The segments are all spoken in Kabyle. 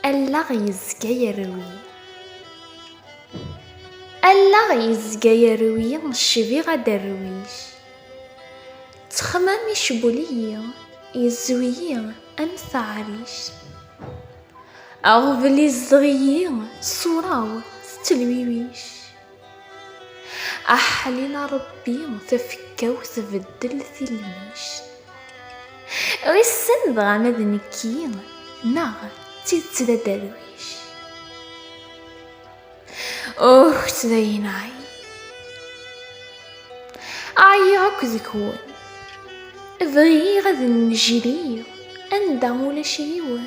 Allaɣ yezga yerwi Allaɣ yezga yerwi Cbiɣ aderwic Ttexmam icbul-iyi Yezwi-yi am taɛrict Aɣbel izdeɣ-iyi Ṣṣura-w tettelwiwic aḥlil a ṛebbi tafekka-w tbeddel tilmict wissen dɣa ma d nekki neɣ d tidet d aderwic ukt dayen ɛyi ɛyiɣ akk deg-wen bɣiɣ ad n-nejriɣ anda ulac yiwen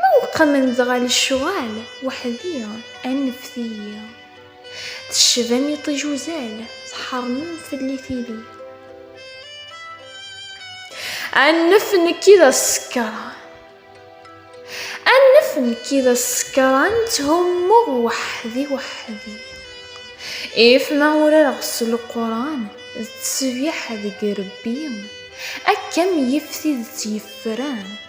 Ma uqmen dɣa lecɣal weḥd-i aneft-iyi Tecbam iṭij uzal tḥeṛmem fell-i tili Anef nekk i d asekṛan Anef nekk i d asekṛan Tthummuɣ weḥd-i weḥd-i If ma urareɣ s Leqran D tesbiḥ deg rebbi Akka m-yif tidet yefran